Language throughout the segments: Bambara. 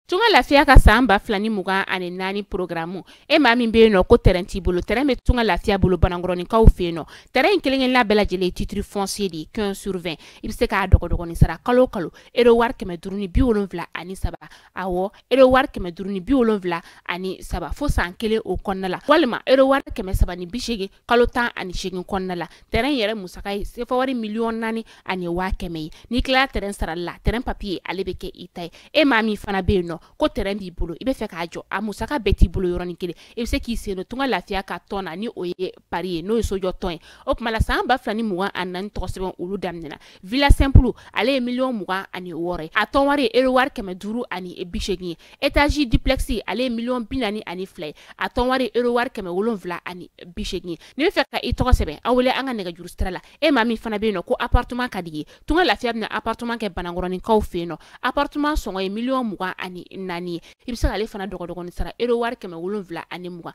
Tunga lafiya ka san ba fila ni mugan ani naani porogaramu e maa min bɛ yen nɔ ko tɛrɛn t'i bolo tɛrɛn bɛ tunga lafiya bolo banankɔrɔninkaw fɛ yen nɔ tɛrɛn in kelen-kelenna bɛɛ lajɛlen titiri fɔnsiye de ye quinze sur vingt i bɛ se k'a dɔgɔdɔgɔnin sara kalo o kalo ero wari kɛmɛ duuru ni bi wolonwula ani saba awɔ ero wari kɛmɛ duuru ni bi wolonwula ani saba fo san kelen o kɔnɔna la walima ero wari kɛmɛ saba ni bi seegin kalo tan ani seegin kɔnɔna la tɛrɛn yɛrɛ musaka ye sefa wari miliyɔn naani ani waa kɛmɛ ye n'i tilala tɛrɛn sarali la tɛrɛn papiye ale bɛ kɛ i ta ye e maa min fana bɛ yen nɔ ko tɛrɛn b'i bolo i bɛ fɛ k'a jɔ a musaka bɛɛ t'i bolo yɔrɔnin kelen i bɛ se k'i sen don tunga lafiya ka tɔn na ni o ye pari ye n'o ye sojɔ tɔn ye o tuma la san ba fila ni mugan ani naani tɔgɔ sɛbɛn olu daminɛna villa simple ale ye miliyɔn mugan ani wɔɔrɔ ye a tɔn wari ye euro wari kɛmɛ duuru ani bi seegin ye etazi duplex ale ye miliyɔn bi naani ani fila ye a tɔn wari ye euro wari kɛmɛ wolonwula ani bi seegin ye n'i bɛ fɛ ka i tɔgɔ sɛbɛn a wele an ka nɛgɛjuru sira la e maa min fana bɛ yen nɔ ko appartement ka di i ye tunga lafiya bɛna appartement kɛ banankɔrɔninkaw fɛ yen nɔ appartement sɔngɔ ye miliyɔn mugan ani naani ye i bɛ se k'ale fana dɔgɔdɔgɔnin sara euro wari kɛmɛ wolonwula ani mugan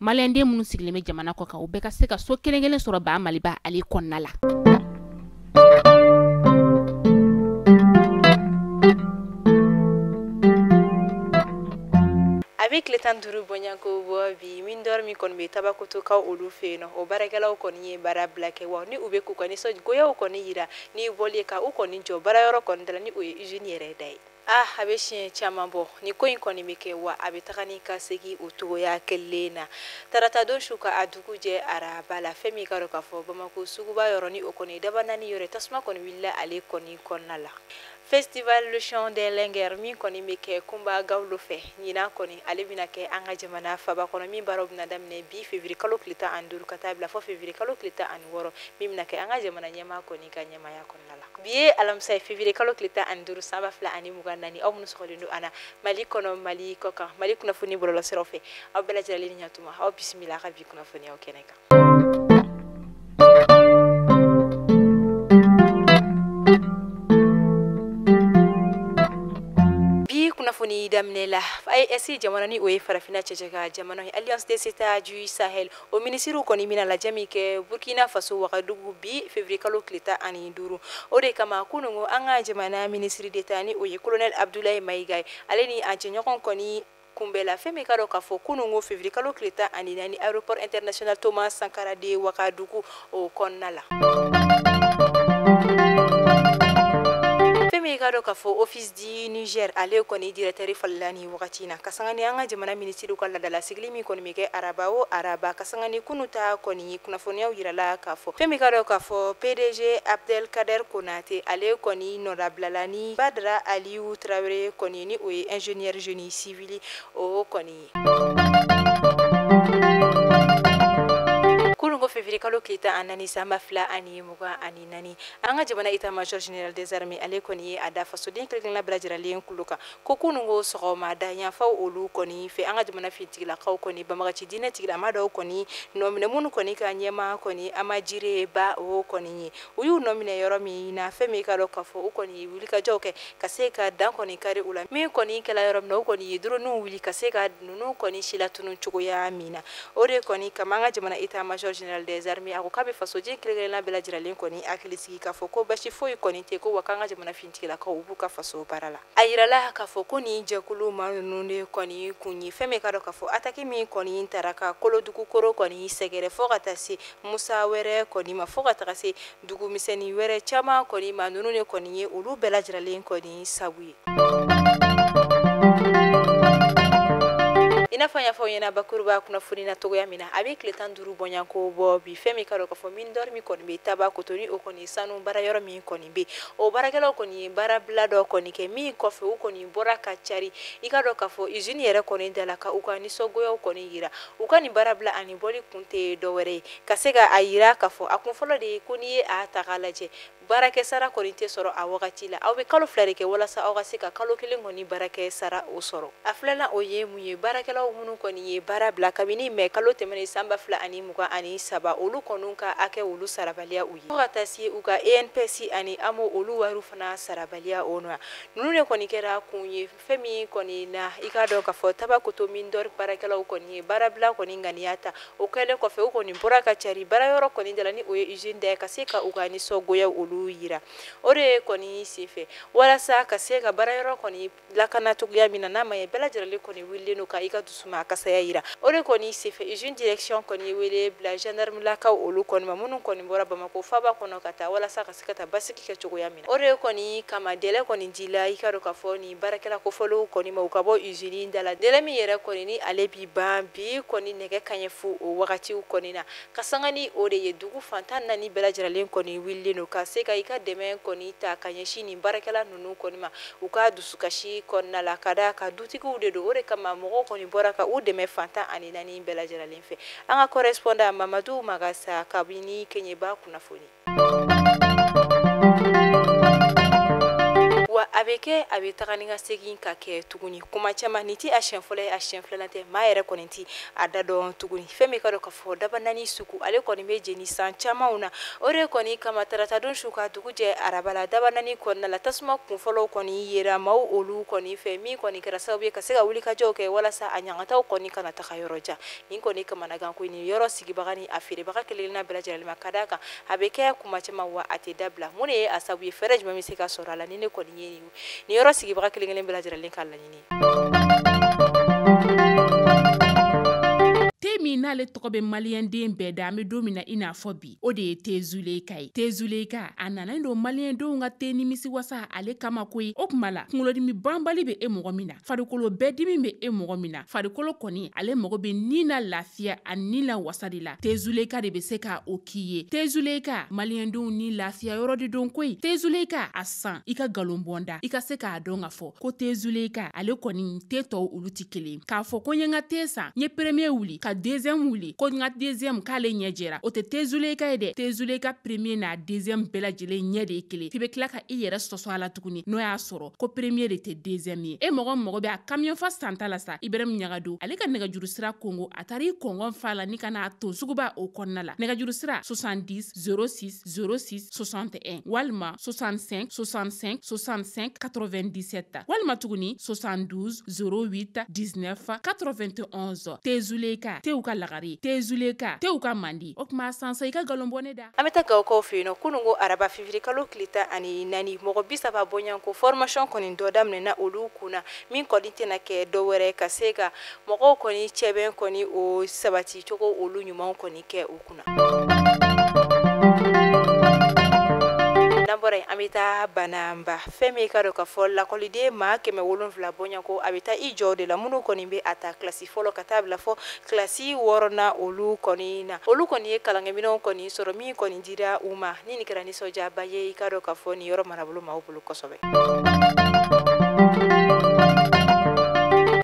maliyɛnden minnu sigilen bɛ jamana kɔ kan u bɛɛ ka se ka so kelen kelen sɔrɔ baa maliba ale kɔnɔna la a bɛ tile tan duuru bɔɲako bɔ bi mine d'or min kɔni bɛ tabakotokaw olu fɛ yen nɔ o baarakɛlaw kɔni ye baara bila kɛ wa ni u bɛ k'u ka nisɔngoyaw kɔni yira ni bɔli ye ka u kɔni jɔ baara yɔrɔ kɔni da la ni o ye usine yɛrɛ da ye Ah, a bɛ siɲɛ caman bɔ ni ko in kɔni bɛ kɛ wa a bɛ taga ni ka segin o cogoya kelen na tarata don su ka a dugu jɛ araba la fɛn min ka dɔn k'a fɔ bamakɔ suguba yɔrɔ ni o kɔni dabanani yɔrɔ tasuma kɔni wulila ale kɔni kɔnɔna la festival le chant des linguères min kɔni bɛ kɛ kunba gawulo fɛ ɲinan kɔni ale bɛna kɛ an ka jamana faba kɔnɔ min baaraw bɛna daminɛ bi feviri kalo tile tan ani duuru ka taa bila fo feviri kalo tile tan ani wɔɔrɔ min bɛna kɛ an ka jamana ɲɛmaa kɔni ka ɲɛmaaya kɔnɔ bi ye alamisa ye fevrier kalo tile tan ani duuru san ba fila ani mugan naani aw minnu sɔgɔlen don an na mali kɔnɔ mali kɔ kan mali kunnafoni bɔlɔlɔsiraw fɛ aw bɛɛ lajɛlen ni ɲatuma aw bisimila ka bi kunnafoniyaw kɛnɛ kan kunnafoni daminɛ la AES jamana ni o ye farafinna cɛncɛn kan jamana ye alliance des états du sahel o minisiriw kɔni bɛna lajɛ min kɛ burkina faso wagadugu bi fevirikalo tile tan ani duuru o de kama kunungo an ka jamana minisiri d'état ni o ye kolonɛli abudulayi mayiga ye ale ni a jɛɲɔgɔn kɔni kunbɛnna fɛn min ka dɔn k'a fɔ kunungo fevirikalo tile tan ani naani aéroport international thomas sankara de wagadugu o kɔnɔna la i k'a dɔn k'a fɔ office di niger ale kɔni directɛri falenna nin wagati in na kasangani an ka jamana minisiriw ka ladalasigili min kɔni bɛ kɛ araba o araba kasangani kunu ta kɔni kunnafoniyaw yirala k'a fɔ fɛn min i k'a dɔn k'a fɔ pdg abdel kader konate ale kɔni nɔdabilala ni badara aliyu tarawele kɔni ni o ye ingénieur génie civil o kɔni fevrier kalo tile tan ani naani san ba fila ani mugan ani naani an ka jamana état major général des armées ale kɔni ye a da fasoden kelenkelenna bɛɛ lajɛrɛlen kulo kan ko kunungo sɔgɔmada yanfanw olu kɔni fɛ an ka jamana finitigilakaw kɔni banbaganci diinɛtigilama dɔw kɔni nɔminɛ minnu kɔni ka ɲɛmaa kɔni ama jire ba o kɔni ye u y'u nɔminɛ yɔrɔ min na fɛn min k'a dɔn k'a fɔ u kɔni ye wulikajɔw kɛ ka se ka dan kɔni kari u la min kɔni kɛla yɔrɔ min na u kɔni ye droniw wuli ka se ka ninnu kɔni silatunu cogoya min na o de kɔni kama an ka jamana état major général des armées a ko k'a bɛ fasoden kelen-kelenna bɛɛ lajɛrɛlen kɔni hakili sigi k'a fɔ ko basi foyi kɔni tɛ ko wa k'an ka jamana finitigilakaw u b'u ka faso baara la a yirala k'a fɔ ko nin jɛkulu maa ninnu de kɔni kun ye fɛn min k'a dɔn k'a fɔ ataki min kɔni taara ka kolodugu kɔrɔ kɔni sɛgɛrɛ fo ka taa se musa wɛrɛ kɔni ma fo ka taga se dugu misɛnnin wɛrɛ caman kɔni ma ninnu de kɔni ye olu bɛɛ lajɛrɛlen kɔni sabu ye i n'a fɔ an y'a fɔ aw ɲɛna bakuruba kunnafoni na cogoya min na a bɛ tile tan duuru bɔɲɔgɔnko bɔ bi fɛn min i k'a dɔn k'a fɔ mine d'or min kɔni bɛ tabakoto ni o kɔni sanu baara yɔrɔ min kɔni bɛ o baarakɛlaw kɔni ye baarabila dɔ kɔni kɛ min kɔfɛ u kɔni bɔra ka cari i k'a dɔn k'a fɔ izini yɛrɛ kɔni da la ka u ka nisɔngoyaw kɔni jira U ka nin baara bila ani bɔli kun tɛ dɔ wɛrɛ ye ka se ka a jira k'a fɔ a kun fɔlɔ de ye ko n'i ye a ta k'a lajɛ baarakɛ sara kɔni tɛ sɔrɔ a wagati la aw bɛ kalo fila de kɛ walasa aw ka se ka kalo kelen kɔni baarakɛ sara o sɔrɔ a filanan o ye mun ye baarakɛlaw minnu kɔni ye baara bila kabini mɛ kalo tɛmɛnen san ba fila ani mugan ani saba olu kɔni ka hakɛ olu sarabaliya u ye ka taa se u ka inps ani amo olu wariw fana sarabaliya o na ninnu de kɔni kɛra kun ye fɛn min kɔni na i k'a dɔn k'a fɔ tabakoto mine d'or baarakɛlaw kɔni ye baarabila kɔni ŋaniya ta o kɛlen kɔfɛ u kɔni bɔra ka cari baara yɔrɔ kɔni dala ni o ye usine da ye ka se ka u ka nisɔngoya olu yira o de ye kɔni senfɛ walasa ka se ka baara yɔrɔ kɔni lakana cogoya min na n'a ma ye bɛɛ lajɛlen kɔni wulilen don ka i ka dusuma kasaya yira o de kɔni senfɛ usine direction kɔni ye wele bila gendarme lakaw olu kɔni ma minnu kɔni bɔra Bamakɔ faaba kɔnɔ ka taa walasa ka ka taa basigi kɛ cogoya min na o de kɔni kama délai kɔni dila i k'a dɔn k'a fɔ ni baarakɛla kofɔlenw kɔni ma u ka bɔ usine da la délai min yɛrɛ kɔni ni ale bi ban bi kɔni nɛgɛ kaɲɛ fu o wagatiw kɔni na ka sanga ni o de ye dugu fan tan naani bɛɛ lajɛrɛlen kɔni wililen don ka se ka i ka dɛmɛ kɔni ta ka ɲɛsin nin baarakɛla ninnu kɔni ma u ka dusukasi kɔnɔna la ka da ka dutigiw de don o de kama mɔgɔw kɔni bɔra ka u dɛmɛ fan tan ani naani bɛɛ lajɛrɛlen fɛ an ka correspondant mamadu magasa kabini keɲeba kunnafoni wa a bɛ kɛ a bɛ taga ni ka segin ka kɛ tuguni kuma caman nin tɛ a siyɛn fɔlɔ ye a siyɛn filanan tɛ maa yɛrɛ kɔni tɛ a da dɔn tuguni fɛn min ka dɔn ka fɔ dabanani sugu ale kɔni bɛ jeni san camanw na o de kɔni kama taratadon su ka dugu jɛ araba la dabanani kɔnɔna la tasuma kunfɔlɔw kɔni yera maaw olu kɔni fɛ min kɔni kɛra sababu ye ka se ka wulikajɔw kɛ walasa a ɲangataw kɔni kana taga yɔrɔ jan nin kɔni kamanagan ko nin yɔrɔ sigibaga ni a feerebaga kelenkelenna bɛɛ lajɛlen ma ka d'a kan a bɛ kɛ kuma caman wa a tɛ dabila mun de ye a sabu ye fɛɛrɛ jumɛn bɛ se ka sɔrɔ a la nin de kɔni ye nin yɔrɔ sigibaga kelenkelen bɛɛ lajɛlen ka laɲini te min n'ale tɔgɔ bɛ maliyɛnden bɛɛ da an bɛ don min na i n'a fɔ bi o de ye tezuleka ye tezuleka a nanen don maliyɛndenw ka te nimisi wasa ale kama koyi o kuma la kunkolodimi banbali bɛ e mɔgɔ min na farikolo bɛɛ dimi bɛ e mɔgɔ min na farikolo kɔni ale mago bɛ ni na lafiya ani ni la wasa de la tezuleka de bɛ se ka o k'i ye tezuleka maliyɛndenw ni lafiya yɔrɔ de don koyi tezuleka a san i ka nkalon bɔ n da i ka se k'a dɔn ka fɔ ko tezuleka ale kɔni te tɔw olu tɛ kelen k'a fɔ ko n ye n ka te san n ye premier wuli ka deuxième wuli ko n ka deuxième k'ale ɲɛ jɛra o tɛ te zuleyika ye dɛ te zuleyika premier n'a deuxième bɛɛ lajɛlen ɲɛ de ye kelen f'i bɛ tila ka i yɛrɛ sɔsɔ a la tuguni n'o y'a sɔrɔ ko premier de tɛ deuxième ye e mɔgɔ mago bɛ a kamiyɔn fa santa la sa ibrahim ɲagado ale ka nɛgɛjuru sira kongo a taara i kɔngɔn fa la ni ka n'a ton suguba o kɔnɔna la nɛgɛjuru sira 70 0606 61 walima 65 65 65 97 walima tuguni 72 08 19 91 tezuleka tew ka lagare tezuleka tew ka mandi o tuma san sa i ka galon bɔ ne da an bɛ taa gawokaw fɛ yen nɔ kunun ko araba février kalo tile tan ani naani mɔgɔ bi saba bɔɲanko formation kɔni dɔ daminɛna olu kunna min kɔni tɛna kɛ dɔ wɛrɛ ka se ka mɔgɔw kɔni cɛbɛn kɔni o sabati cogo olu ɲumanw kɔni kɛ u bɔra yen an bɛ taa bananba fɛn min ka dɔn ka fɔ lakɔliden maa kɛmɛ wolonwula bɔɲanko a bɛ taa i jɔ de la minnu kɔni bɛ a ta kilasi fɔlɔ ka taa bila fɔ kilasi wɔɔrɔnan olu kɔni na olu kɔni ye kalankɛminɛnw kɔni sɔrɔ min kɔni dira u ma ni nin kɛra nisɔndiyaba ye i ka dɔn ka fɔ nin yɔrɔ marabolo maaw bolo kosɛbɛ.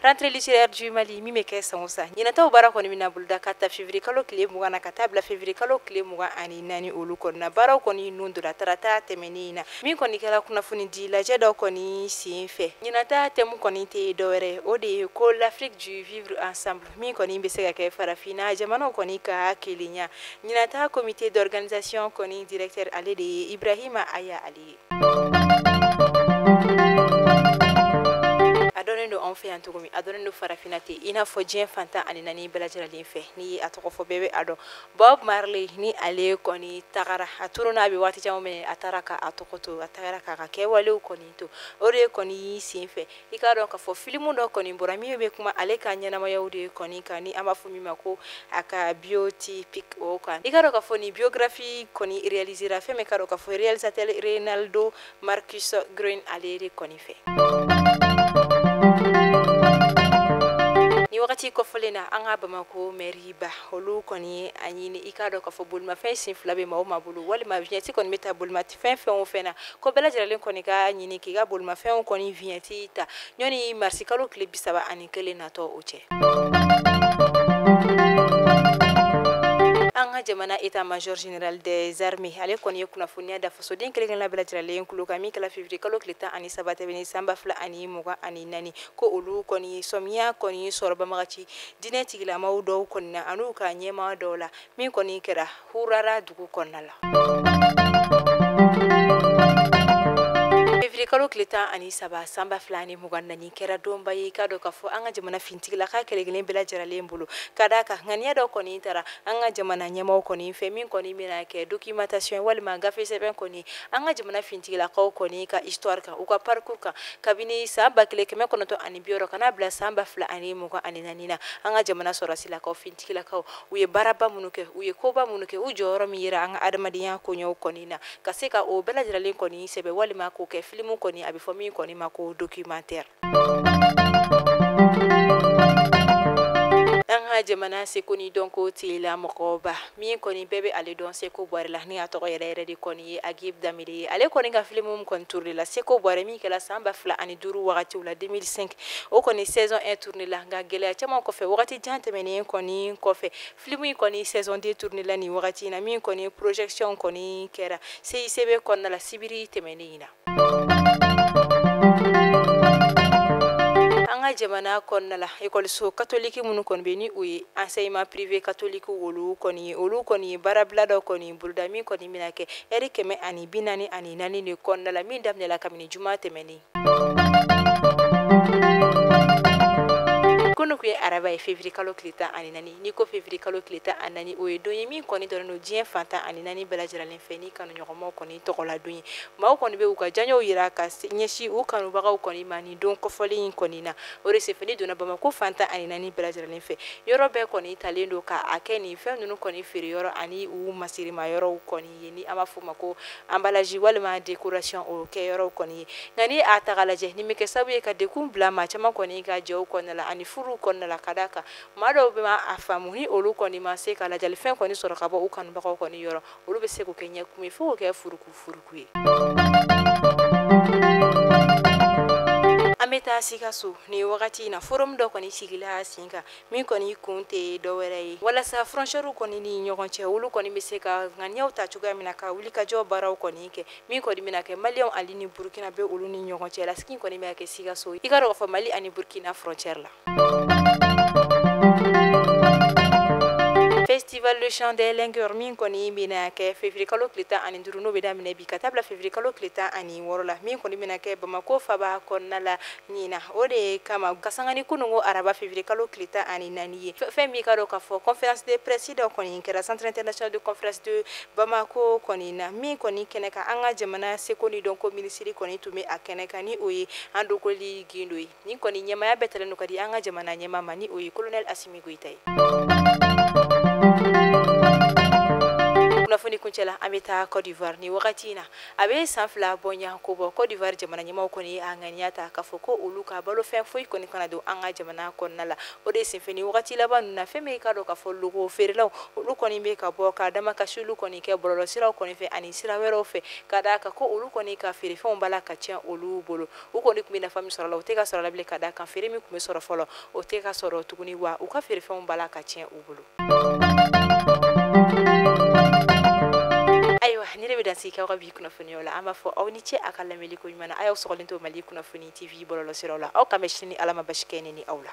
Rentrée littéraire du Mali min bɛ kɛ san o san ɲinataw baara kɔni bɛna boloda ka ta février kalo tile mugan na ka taa bila février kalo tile mugan ani naani olu kɔni na baaraw kɔni nun donna tarata tɛmɛnen in na min kɔni kɛra kunnafoni di lajɛ dɔ kɔni sen fɛ ɲinata thème kɔni tɛ dɔwɛrɛ o de ye ko l'Afrique du vivre ensemble min kɔni bɛ se ka kɛ farafinna jamanaw kɔni ka kelenya ɲinata comité d'organisation kɔni directeur ale de ye ibrahima aya ale ye farafinna ten i n'a fɔ diɲɛ fan tan ani naani bɛɛ lajɛlen fɛ n'i ye a tɔgɔ fɔ bɛɛ bɛ a dɔn bob marley ni ale kɔni tagara a turu na a bɛ waati caman minɛ a taara ka a tɔgɔ to a tagara k'a ka kɛwalew kɔni to o de kɔni y'i sen fɛ i k'a dɔn k'a fɔ filimu dɔ kɔni bɔra min bɛ kuma ale ka ɲɛnamayaw de kɔni kan ni an b'a fɔ min ma ko a ka biotypique o kan i k'a dɔn k'a fɔ nin biographie kɔni réalisera fɛn min k'a dɔn k'a fɔ réalisateur reinaldo marcus green ale de kɔni fɛ nin wagati kofɔlen na an ka bamako mɛriba olu kɔni ye a ɲini i k'a dɔn k'a fɔ bolimafɛn sen fila bɛ maa o maa bolo walima vignette kɔni bɛ ta bolima fɛn fɛn o fɛn na ko bɛɛ lajɛralen kɔni ka ɲini k'i ka bolimafɛnw kɔni vignette ta ɲɔni marisi kalo tile bi saba ani kelen natɔ o cɛ an ka jamana état-major général des armées ale kɔni ye kunnafoniya da fasoden kelenkelenna bɛɛ lajɛralen kulo kan min kɛla février kalo tile tan ani saba tɛmɛnen san ba fila ani mugan ani naani ko olu kɔni sɔmiya kɔni sɔrɔ banbaganci diinɛ tigilamaw dɔw kɔni na an'u ka ɲɛmaa dɔw la min kɔni kɛra hurara dugu kɔnɔna la kalo tile tan ani saba san ba fila ni mugan naani kɛra donba ye k'a dɔn k'a fɔ an ka jamana fintigilaka kelenkelen bɛɛ lajɛralen bolo ka d'a kan ŋaniya dɔ kɔni tara an ka jamana ɲɛmaw kɔni fɛ min kɔni bɛna kɛ documentation walima gafe sɛbɛn kɔni an ka jamana fintigilakaw kɔni ka histoire kan u ka parcours kan kabini san ba kelen kɛmɛ kɔnɔntɔn ani bi wɔɔrɔ ka na bila san ba fila ani mugan ani naani na an ka jamana sɔrɔsilakaw finti tigilakaw u ye baaraba minnu kɛ u ye koba minnu kɛ u jɔyɔrɔ min yera an ka adamadenya koɲɛw kɔni na ka se ka o bɛɛ lajɛralen kɔni sɛbɛn walima k'o kɛ filimu kɔni a bɛ fɔ min kɔni ma ko documentaire an ka jamana seko ni dɔnko tigila mɔgɔba min kɔni bɛɛ bɛ ale dɔn séko boiré la ni a tɔgɔ yɛrɛ yɛrɛ de kɔni ye habib dembélé ye ale kɔni ka filimu kɔni tourné la séko boiré min kɛra san ba fila ani duuru wagatiw la 2005 o kɔni saison 1 tourné la nka gɛlɛya caman kɔfɛ wagati jan tɛmɛnen kɔni kɔfɛ film in kɔni saison 2 tourné la nin wagati in na min kɔni projection kɔni kɛra CICB kɔnɔna la sibiri tɛmɛnen in na an ka jamana kɔnɔna la ekɔliso katoliki minnu kɔni bɛ ni o ye enseignement privé catholique olu kɔni ye olu kɔni ye baarabila dɔ kɔni boloda min kɔni bɛna kɛ ɛri kɛmɛ ani bi naani ani naani de kɔnɔna la min daminɛla kabini juma tɛmɛnen ye araba ye février kalo tile tan ani naani n'i ko février kalo tile tan ani naani o ye don ye min kɔni dɔnnen don diɲɛ fan tan ani naani bɛɛ lajɛlen fɛ nin ye kanuɲɔgɔnmaw kɔni tɔgɔla don ye maaw kɔni bɛ u ka diyanyew yira ka ɲɛsin u kanubagaw kɔni ma nin don kɔfɔlen in kɔni na o de senfɛ n'i donna bamako fan tan ani naani bɛɛ lajɛlen fɛ yɔrɔ bɛɛ kɔni talen don k'a kɛ nin fɛn ninnu kɔni feere yɔrɔ ani u masirima yɔrɔw kɔni ye ni an b'a fɔ o ma ko anbalaji walima décoration o kɛ yɔrɔw kɔni ye nka ni a ta k'a lajɛ nin bɛ kɛ sababu ye ka degun bila maa caman kɔni ka jɛw kɔnɔna la ani furuw kɔnɔna la ka d'a kan maa dɔw bɛ a faamu ni olu kɔni ma se ka ladiyalifɛn kɔni sɔrɔ ka bɔ u kanubagaw kɔni yɔrɔ olu bɛ se k'o kɛ ɲɛkumu ye fo k'o kɛ furuku furuku ye an bɛ taa sikaso nin wagati in na forum dɔ kɔni sigila sen kan min kɔni kun tɛ dɔwɛrɛ ye walasa frontièrew kɔni ni ɲɔgɔn cɛ olu kɔni bɛ se ka ŋaniyaw ta cogoya min na ka wulikajɔ baaraw kɔni kɛ min kɔni bɛna kɛ maliyɛnw ali ni burukinabɛ olu ni ɲɔgɔn cɛ la sigi kɔni bɛ kɛ sikaso i k'a dɔn k'a fɔ mali ani burukina frontière la festival le chant des linguères min kɔni bɛna kɛ février kalo tile tan ani duuru n'o bɛ daminɛ bi ka taa bila février kalo tile tan ani wɔɔrɔ la min kɔni bɛna kɛ bamako faba kɔnɔna la ɲinan o de kama ka sanga ni kunun ko araba février kalo tile tan ani naani ye fɛn min ka dɔn k'a fɔ conférence de presse dɔ kɔni kɛra centre international de conférence de bamako kɔni na min kɔni kɛnɛ kan an ka jamana seko ni dɔnko minisiri kɔni tun bɛ a kɛnɛ kan ni o ye andogoli gindo ye nin kɔni ɲɛmaaya bɛɛ talen don ka di an ka jamana ɲɛmaa ma ni o ye colonel asimi goyita ye kunnafoni kuncɛ la an bɛ taa côte d'ivoire nin wagati in na a bɛ san fila bɔɲɔgɔnko bɔ côte d'ivoire jamana ɲɛmaaw kɔni ye a ŋaniya ta k'a fɔ ko olu ka balofɛn foyi kɔni kana don an ka jamana kɔnɔna la o de senfɛ nin wagati laban ninnu na fɛn min ka dɔn k'a fɔ loko feerelaw olu kɔni bɛ ka bɔ ka damakasiliw kɔni kɛ bɔlɔlɔsiraw kɔni fɛ ani sira wɛrɛw fɛ ka d'a kan ko olu kɔni ka feerefɛnw b'a la ka tiɲɛ olu bolo u kɔni tun bɛ nafa min sɔrɔ la o tɛ ka sɔrɔ la bilen ka d'a kan feere min tun bɛ sɔrɔ fɔlɔ o tɛ ka sɔrɔ tuguni wa u ka feerefɛnw b'a la ka tiɲɛ u bolo ayiwa nin de bɛ dan sigi kɛ aw ka bi kunnafoniyaw la an b'a fɔ aw ni ce a ka lamɛnni ko ɲuman na a y'aw sɔgɔlen to mali kunnafoni tv bɔlɔlɔsiraw la aw k'an bɛn sini ni ala ma baasi kɛ ne ni aw la